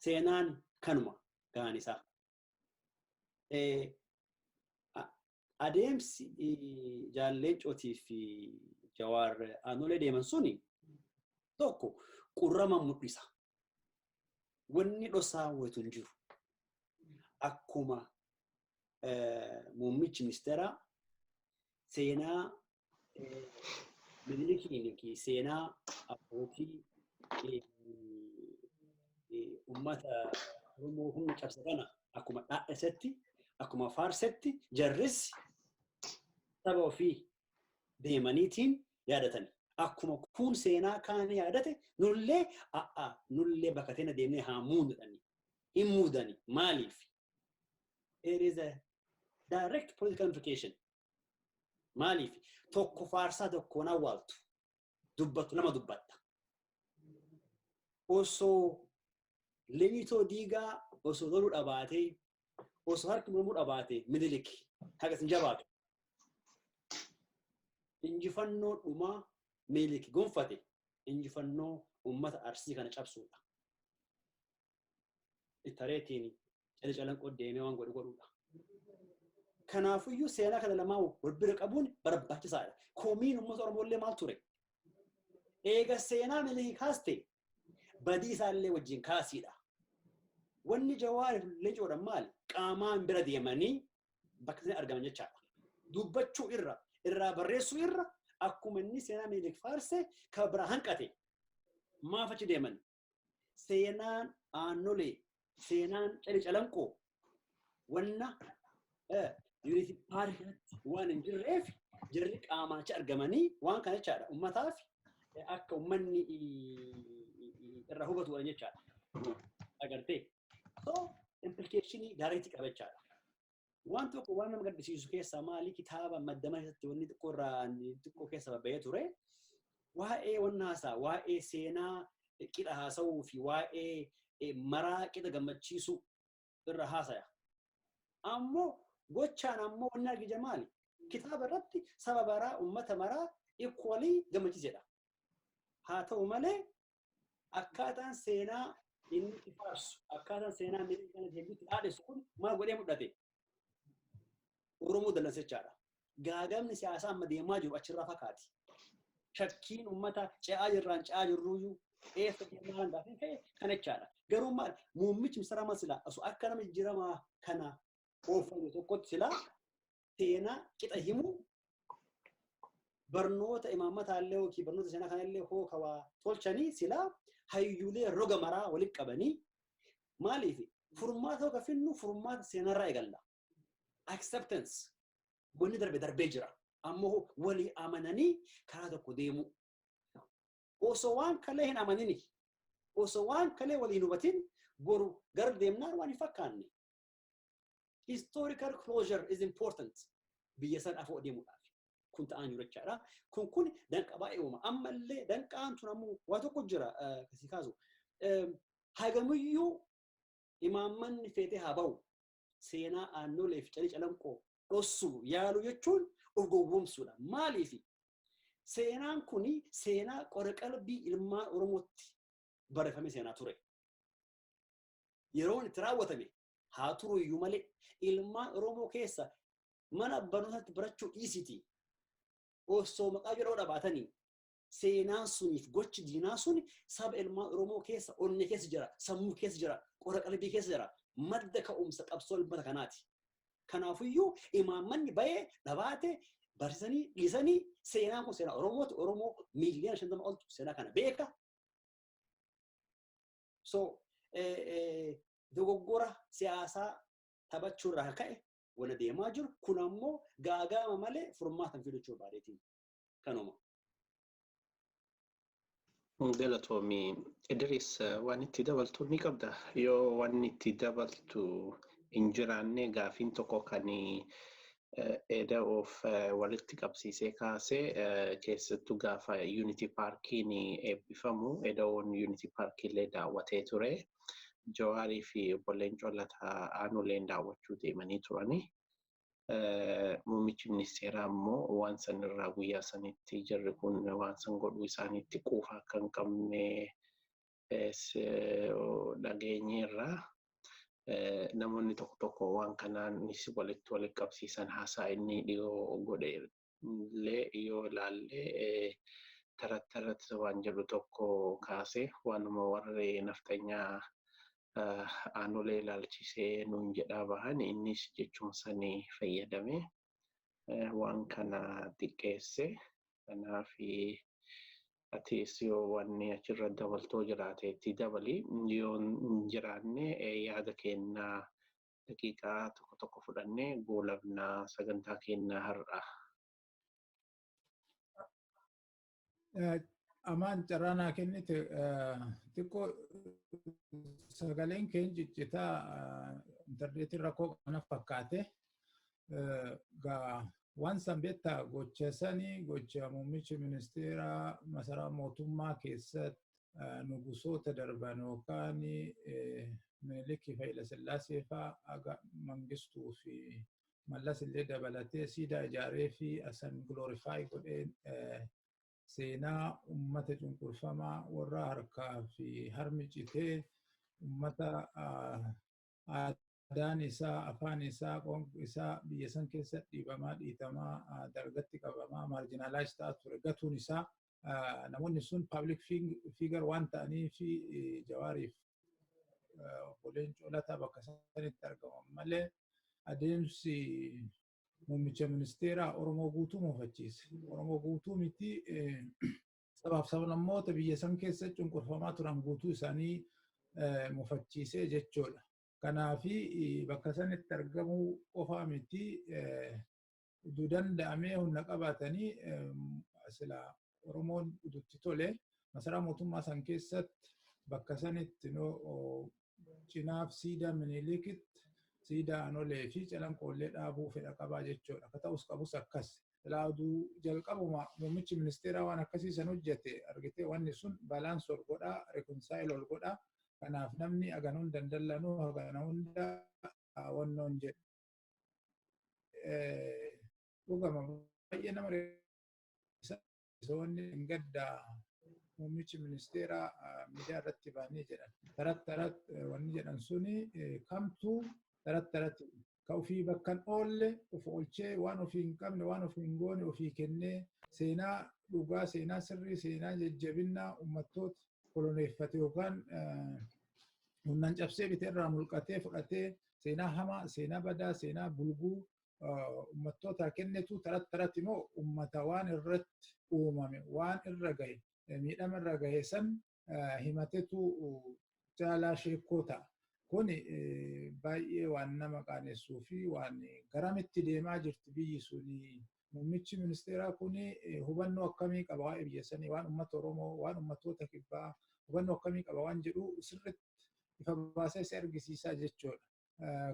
seenaan kanuma gahaan isaa. Adeemsi jaalleen cootii fi jawaar aanolee deeman suni tokko qurrama mul'isa. Wanni dhosaa waytu hin jiru. Akkuma muummichi ministeeraa seenaa Minilikiin yookiin seenaa abbootii uummata Oromoo humna cabse kana akkuma dhaadhesetti akkuma faarsetti jarris saba ofii deemaniitiin yaadatani. Akkuma kuun seenaa kaan yaadate nullee a'a nullee bakka teena deemnee haa muudani. Hin muudani. Maaliif? There is a direct political implication. Maaliif tokko faarsaa tokkoon awwaaltu dubbatu nama dubbatta. Osoo lemitoo diigaa osoo loluu dhabaatee osoo harki mormuu dhabaatee minilik hagas hin jabaatu. Injifannoo dhumaa minilik gonfate injifannoo uummata arsii kana cabsuudha. ittareetiin cali calanqoo deemee waan godhu godhuudha. Kanaafuyyuu seenaa kana lamaan wal bira qabuun barbaachisaadha. Komiin uummata Oromoo illee maal ture? Eega seenaa milii kaaste badii isaa illee wajjin kaasiidha. Wanni jawaariif leencoodha maali? Qaamaan bira deemanii bakka sana argaman jechaadha. Dubbachuu irra irraa barreessuu irra akkuma inni seenaa milii faarse kan biraa hanqate maaf achi deeman? seenaan aannolee seenaan cali calanqoo wanna yuunitii paarkiitti waan hin jirreef jirri qaamaacha argamanii waan kana jechaadha ummataaf akka ummanni irraa hubatuudhaan jechaadha agartee so implikeeshinii daariitti qaba jechaadha Waan tokko waan nama gaddisiisu keessaa maali kitaaba maddama keessatti wanni xiqqoo irraa xiqqoo keessa babba'ee ture. Waa'ee wanna haasaa, waa'ee seenaa qixa haasa'uu fi waa'ee eh, maraa qixa gammachiisuu irra haasaya. Ammoo gochaan ammoo wanni argija maali? Kitaaba irratti saba baraa, uummata maraa equally gammachiisedha. Haa ta'u malee akkaataan seenaa inni itti faarsu akkaataan seenaa inni kana deebiitti dhaadhessu kun maal godhee mul'ate? Oromoo dallansichaadha. Gaagamni siyaasaa amma deemaa jiru achirraa fakkaati. Shakkiin uummata ce'aa jirraan ce'aa jirruyyuu eessa deemaa kan taasisan ta'e kan jechaadha. Garuu maal muummichi misirama silaa osoo akka nama jijjiiramaa kana oofame tokkotti silaa seenaa qixa himuu barnoota imaammataa illee yookiin barnoota seenaa kana illee hoo kawaa tolchanii silaa hayyuulee roga maraa walitti qabanii maaliif furmaata yookaan finnu furmaata seenarraa eegalla. Acceptance wanni darbe darbee jira. Ammoo walii amananii karaa tokko deemuu. Osoo waan kalee hin amanini. Osoo waan kalee walii hin hubatin boru gara deemnaan waan hin fakkaanne. historical closure is important biyya san afoo deemuudhaaf kun ta'aa jiru jechaadha kun kun danqa baay'ee uuma ammallee danqaan tun ammoo waa tokko jira kasii kaasu hagamiyyuu imaammanni feetee haa ba'u seenaa aannoleef calii calanqoo dhossu yaalu jechuun of gowwoomsuudha maaliif seenaan kun seenaa qora qalbii ilmaan oromootti barreeffame seenaa ture yeroon itti raawwatame haa turu iyyuu malee ilmaan Oromoo keessa mana barnootaatti barachuu dhiisiti osoo maqaa jedhoo dhabaatanii seenaan suniif gochi diinaa sun saba ilmaan Oromoo keessa onnee keessa jira sammuu keessa jira qora qalbii keessa jira madda ka'umsa qabsoo ilmata kanaati. Kanaafiyyuu imaammanni bayee dhabaate barsiisanii dhiisanii seenaan kun seenaa Oromooti Oromoo miiliyoona shantama oltu seenaa kana beeka. So dogoggora siyaasaa taphachuu irraa ka'e wal adeemaa jiru. Kun ammoo gaagaama malee furmaata hin fidu jechuudha baadeetiin. Kanuma. Galatoomii Idris waan itti dabaltu ni qabda. Yoo waan itti dabaltu hin jiraanne gaafiin tokko kan Eda'oof walitti qabsiisee kaasee keessattuu gaafa Unity Paarkiin eebbifamu Eda'oon Unity Paarkiillee daawwatee ture. Jawaarii fi obbo Leencoo Lataa aanuuleen daawwachuu deemanii turani. Muummichi ministeeraa immoo waan san irraa guyyaa sanitti jarri kun waan san godhuu isaaniitti quufa akka hin qabne dhageenyeerra. Namoonni tokko tokko waan kanaanis walitti walitti qabsiisan haasaa inni dhiyoo godhe illee yoo ilaalle tarat tarat waan jedhu tokko kaase waanuma warri nafxanyaa aanolee ilaalchisee nuun jedhaa bahan innis jechuma sanii fayyadame. waan kana xiqqeesse kanaaf atis yoo wanni achirra dabaltoo jiraate itti dabali yoo hin jiraanne yaada kennaa daqiiqaa tokko tokko fudhannee goolabnaa sagantaa kennaa har'a. Eh, Amaan carraa naa kennite eh, xiqqoo sagaleen keen ciccitaa eh, intarneetiin rakkoo kana fakkaate. Eh, Gaa waan san beektaa gocha sanii gocha muummichi ministeeraa masaraa mootummaa keessatti eh, nugusoota darban yookaan eh, Minilikii fi Hayilasillaasee fa'aa aga Mangistuu fi mallas illee dabalatee siidaa ijaaree fi asan glorify godhee seenaa ummata cunqurfamaa warra harkaa fi harmi citee ummata aadaan isaa afaan isaa qoonq isaa biyya san keessa dhiibamaa dhiitamaa dargatti qabamaa maarjinaalaayis ta'aa ture gatuun isaa namoonni sun paablik fiigar waan ta'anii fi jawaariif obbo Leencoo Lataa bakka isaanitti argaman malee adeemsi muummicha ministeeraa Oromoo guutuu muufachiise. Oromoo guutuu miti sabaaf sablammoota biyya san keessa cunqurfamaa turan guutuu isaanii muufachiise jechuudha. Kanaafi bakka sanitti argamuu qofaa miti utuu danda'amee humna qabaatanii sila Oromoon ututti tole masaraa mootummaa san keessatti bakka sanitti cinaaf siidaa miniilikitti siidaa anolee fi calanqoollee dhaabuu fedha qabaa jechuudha. Akka ta'us qabus akkas. Silaa oduu jalqabuma muummichi ministeeraa waan akkasii san hojjete argitee wanni sun balance ol godhaa reconcile ol godhaa kanaaf namni hagan hunda hin dallanuu hagana hunda wannoon jedhu. dhugama baay'ee nama risoonni hin gaddaa muummichi ministeeraa miidiyaa irratti baanii jedhan tarat tarat wanni jedhan suni kamtuu tarat tarat ka ofii bakkan oolle of oolchee waan ofii hin qabne waan ofii hin goone ofii kennee seenaa dhugaa seenaa sirrii seenaa jajjabinnaa ummattoota koloneeffate yookaan humnaan cabsee bite irraa mulqatee fudhatee seenaa hamaa, seenaa badaa, seenaa bulguu ummattootaa kennitu taratti taratti immoo ummata waan irratti uumame waan irra gahe miidhama irra gahe san himatetu jaalaa sheekkoo ta'a. Kun baay'ee waan nama qaanessuu fi waan garamitti deemaa jirti biyyi suni Muummichi ministeeraa kun hubannoo akkamii qaba waa'ee biyya sanii, waan uummata Oromoo, waan uummattoota kibbaa hubannoo akkamii qaba waan jedhu sirriitti ifa baasee si argisiisaa jechuudha.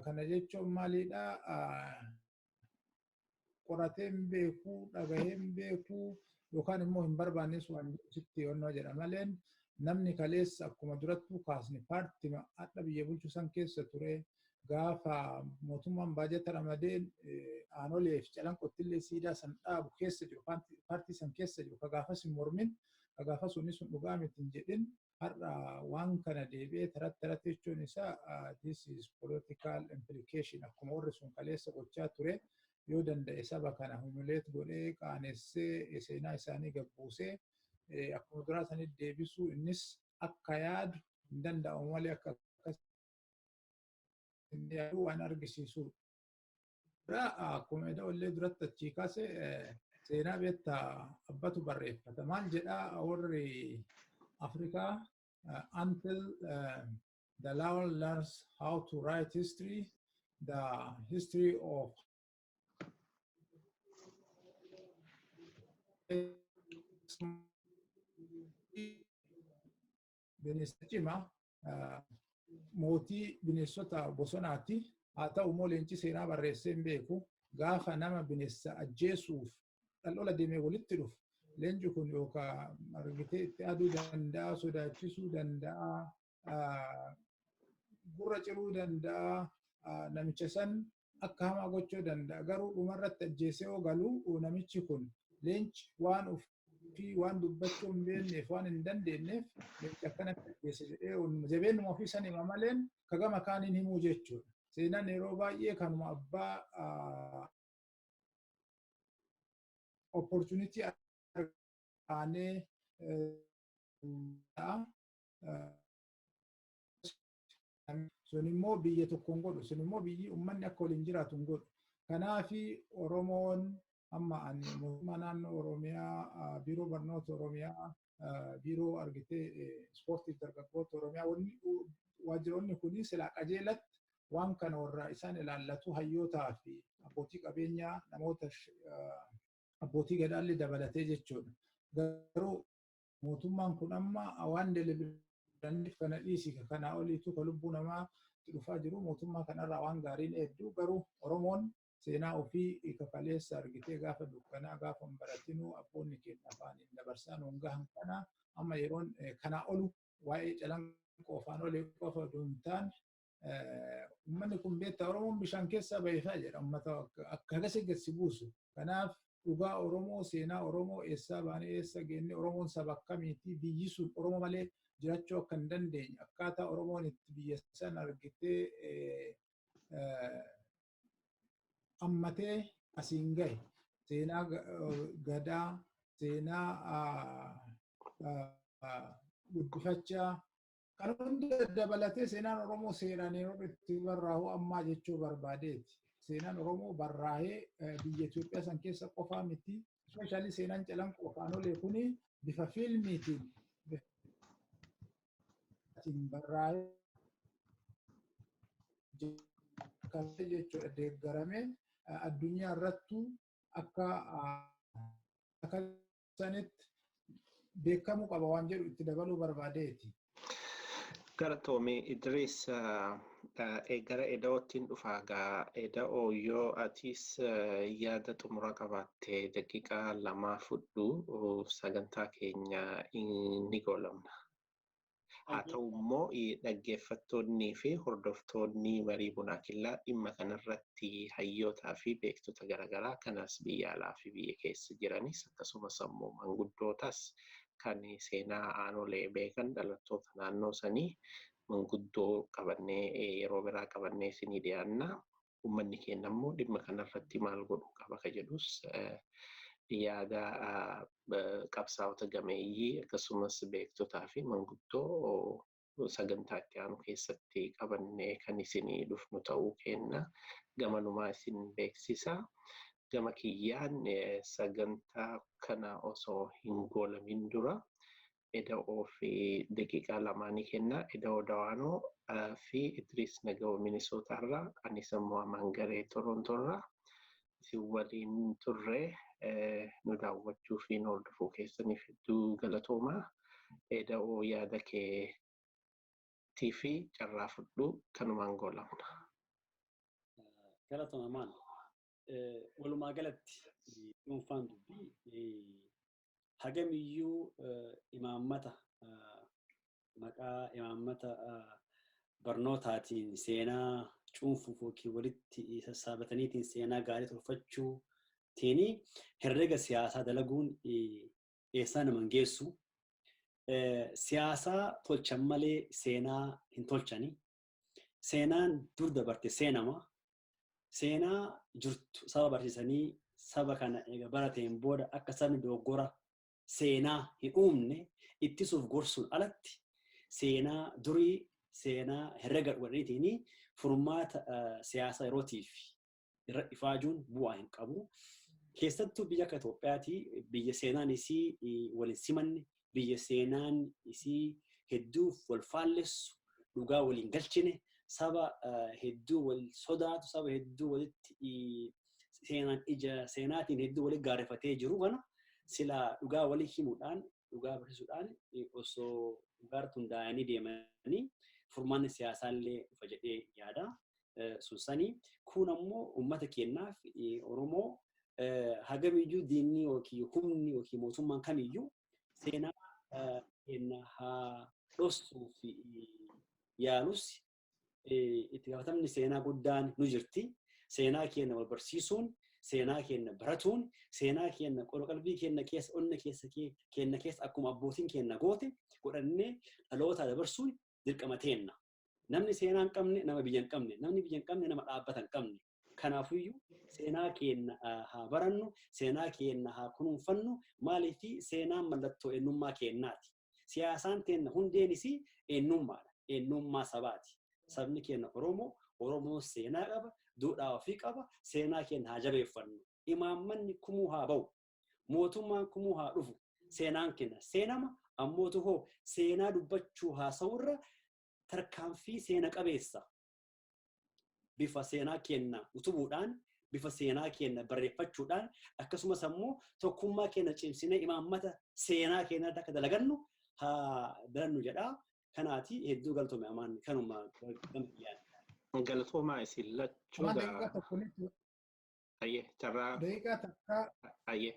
Kana jechuun maalidha? Qorateen beekuu, dhagaheen beekuu yookaan immoo hin barbaannes waan sitti yoonnoo jedha malee namni kaleessa akkuma durattuu kaasne paartima hadha biyya bulchu san keessa ture gaafa mootummaan baajata ramadee aanoleef calanqottillee siidaa san dhaabu keessa jiru paartii san keessa jiru ka gaafas hin mormin ka gaafas wanni sun dhugaa miti hin jedhin har'a waan kana deebi'ee taratti taratti jechuun isaa this is political implication akkuma warri sun kaleessa gochaa ture yoo danda'e saba kana humiliate godhee qaanessee seenaa isaanii gabbuusee akkuma duraa sanitti deebisuu innis akka yaadu hin danda'amu malee akka Inni garuu waan argisiisu dura akkuma edoo illee duratti achii kaase seenaa beekta abbatu barreeffata. Maal jedhaa warri Afrikaa until the lion learns how to write history, the history of bineensa cimaa mootii bineensota bosonaati. Haa ta'u immoo leenci seenaa barreessee hin beeku. Gaafa nama bineensa ajjeesuuf dhal'ola deemee walitti dhufu leenci kun yookaan argitee itti aduu danda'a, sodaachisuu danda'a, gurra ciruu danda'a, namicha san Akka hamaa gochuu danda'a. Garuu dhumarratti ajjeesee yoo galu namichi kun leenci waan ofii waan dubbachuu hin beekneef waan hin dandeenyeef leenci akkanatti ajjeese jedhee jabeenuma ofii san hima malee ka gama kaaniin himuu jechuudha. Seenaan yeroo baay'ee kanuma abbaa opportunity aanee sun immoo biyya tokko hin godhu sun immoo biyyi ummanni akka waliin jiraatu hin godhu kanaafi oromoon amma ani mootummaa naannoo oromiyaa biiroo barnoota oromiyaa biiroo argitee ispoortii dargaggoota oromiyaa wanni waajjiroonni kunii silaa qajeelatti waan kana warra isaan ilaallatu hayyootaa fi abbootii qabeenyaa namoota abbootii gadaallee dabalatee jechuudha garuu mootummaan kun amma waan delibiranif kana dhiisi ka kanaa oliitu ka lubbuu namaa itti dhufaa jiru mootummaa kanarraa waan gaariin eeddu garuu Oromoon seenaa ofii ka kaleessa argitee gaafa dukkanaa gaafa hin baratinuu abboonni keenya afaaniin dabarsaa nuun gahan kana amma yeroon kanaa olu waa'ee calanqoo afaan olee qofa odoo hin taane Uummanni kun beektaa Oromoon bishaan keessaa baheefaa jedha uummata akka hagasii gad si buusu. Kanaaf dhugaa Oromoo seenaa Oromoo eessaa baanee eessa geenne Oromoon saba akkamiitii biyyi sun Oromoo malee jiraachuu akka hin dandeenye akkaataa Oromoon itti biyya san argitee ammatee asiin gahe seenaa gadaa seenaa guddifachaa Kan hunda dabalatee seenaan Oromoo seeraan yeroo itti barraa'u ammaa jechuu barbaadeeti. Seenaan Oromoo barraa'ee eh, biyya Itoophiyaa san keessa qofaa miti. Ispeeshaalii seenaan calanqoo afaan olee kun bifa fiilmiitiin bifaatiin barraa'ee kan jechuudha deeggaramee eh, addunyaa irrattuu akka ah, akka sanitti beekamuu qaba waan jedhu itti dabaluu barbaadeeti. Galatoomi Idris gara Eda'oottiin dhufaa gaa Eda'oo yoo atiis yaada xumura qabaatte daqiiqaa lamaa fudhu sagantaa keenya ni goolabna. Haa ta'u immoo dhaggeeffattoonnii fi hordoftoonni marii bunaa killaa dhimma kanarratti hayyootaa fi beektota garaagaraa kanas biyya alaa fi biyya keessa jiranis akkasumas ammoo manguddootas kan seenaa aanolee beekan dhalattoota naannoo sanii manguddoo qabannee yeroo biraa qabannee isinii dhiyaanna. ummanni keenya immoo dhimma kanarratti maal godhuu qaba ka jedhus yaada qabsaa'ota gameeyyii akkasumas beektotaa fi manguddoo sagantaa itti aanu keessatti qabannee kan isinii dhufnu ta'uu keenna gamanumaa isin beeksisa. Gama kiyyaan sagantaa kana osoo hin goolamin dura Eda'oo fi daqiiqaa lamaa ni kenna. Eda'oo Dawaanoo fi Idriis Nagawoo Minisootaa irraa anis immoo Amaan Garee Torontoo irraa isin waliin turre nu daawwachuu fi nu hordofuu keessaniif hedduu galatoomaa. Eda'oo yaada keetii fi carraa fudhu kanumaan goolabna. Galatoomaa Amaan. Walumaa galatti dhuunfaan dubbii hagamiyyuu imaammata maqaa imaammata barnootaatiin seenaa cuunfuuf yookiin walitti sassaabataniitiin seenaa gaarii tolfachuutiin herrega siyaasaa dalaguun eessaa nama hin geessu. Siyaasaa tolchan malee seenaa hin tolchani. Seenaan dur dabarte seenama. seenaa jirtu saba barsiisanii saba kana eega barateen booda akka sabni dogoggora seenaa hin uumne ittisuuf gorsuun alatti seenaa durii seenaa herrega godhaniitiin furmaata siyaasa yerootiif irra ifaajuun bu'aa hin qabu. Keessattuu biyya akka Itoophiyaatii biyya seenaan isii waliin simanne biyya seenaan isii hedduuf wal faallessu, dhugaa wal hin galchine, saba hedduu wal sodaatu, saba hedduu walitti seenaan ija seenaatiin hedduu walitti gaarrefatee jiru kana silaa dhugaa walii himuudhaan, dhugaa barsiisuudhaan osoo dhugaarratti hundaa'anii deemanii furmaanni siyaasaallee dhufa jedhee yaada. sun sanii kun ammoo uummata keenyaaf Oromoo hagamiyyuu diinni yookiin humni yookiin mootummaan kamiyyuu seenaa keenya haa dhossuuf yaalus itti gaafatamni seenaa guddaan nu jirti. Seenaa keenya wal barsiisuun, seenaa keenya baratuun, seenaa keenya qalbii keenya keessa, onna keessa keenya keessa akkuma abbootiin keenya goote godhannee dhaloota dabarsuun dirqama teenna. Namni seenaa hin qabne nama biyya hin qabne, namni biyya hin qabne nama dhaabbata hin qabne. Kanaafuyyuu seenaa keenya haa barannu, seenaa keenya haa kunuunfannu, maaliif seenaan mallattoo eenyummaa keenyaati. Siyaasaan keenya hundeenis eenyummaadha, eenyummaa sabaati. Sabni keenya Oromoo, Oromoon seenaa qaba, duudhaa ofii qaba, seenaa keenya haa jabeeffannu. Imaammanni kumuu haa bahu. Mootummaan kumuu haa dhufu. Seenaan keenya seenama ammootu hoo seenaa dubbachuu haasa'urra tarkaanfii seena qabeessa bifa seenaa keenya utubuudhaan bifa seenaa keenya barreeffachuudhaan akkasumas ammoo tokkummaa keenya cimsinee imaammata seenaa keenya irratti akka dalagannu haa dalannu jedha. Kanaati hedduu galtoome amaan kanuma gama dhiyaate. Galatoomaa isin lachuu Waan gaa. daqiiqaa tokko lixu Ayyee carraa Daqiiqaa takkaa ayyee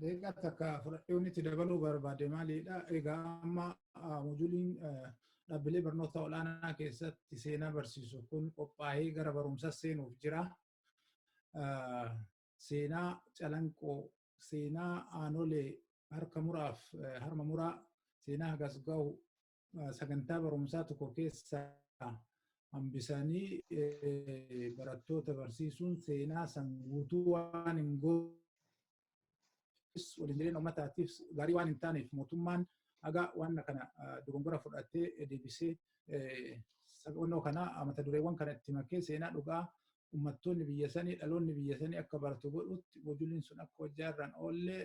daqiiqaa takka fudhadhee wanti itti dabaluu barbaade maalidha? Egaa amma ah, mojuliin ah, dhaabbilee barnoota olaanaa keessatti seenaa barsiisu kun qophaa'ee gara barumsaa seenuuf jira. Ah, Seenaa calanqoo, seenaa aanolee harka muraaf eh, harma muraa, seenaa hagas gahu, sagantaa barumsaa tokko keessaa hambisanii barattoota barsiisuun seenaa san guutuu waan hin goone waliin jireenya uummataatiif gaarii waan hin taaneef mootummaan haga waan kana dogongora fudhatee deebisee sabonnoo kana mata dureewwan kana itti makee seenaa dhugaa uummattoonni biyya sanii dhaloonni biyya sanii akka baratu godhutti hojiileen sun akka hojjaa irraan oollee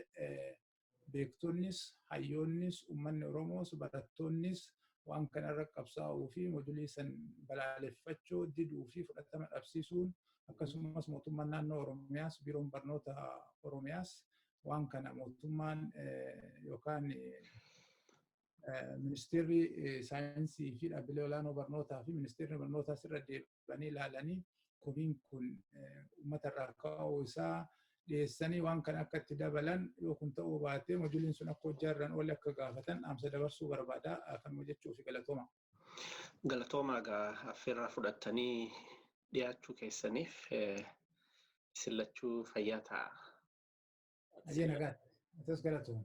beektonnis, hayyoonnis, ummanni Oromoos, barattoonnis waan kana irra qabsaa'uu fi modulii san balaaleffachoo diduu fi fudhatama dhabsiisuun akkasumas mootummaan naannoo Oromiyaas biiroon barnoota Oromiyaas waan kana mootummaan yookaan ministeerri saayinsii fi dhaabbilee olaanoo barnootaa fi ministeerri barnootaas irra deebi'ee turanii ilaalanii komiin kun uummata irraa ka'uu isaa dhiyeessanii waan kana akka itti dabalan yoo kun ta'uu baatee mojuliin sun akka hojjaa irraan oole akka gaafatan dhaamsa dabarsuu barbaada kan hojjechuu fi galatooma. Galatooma egaa affeerraa fudhattanii dhiyaachuu keessaniif isin lachuu fayyaa ta'a. Ajee nagaa. Atis galatooma.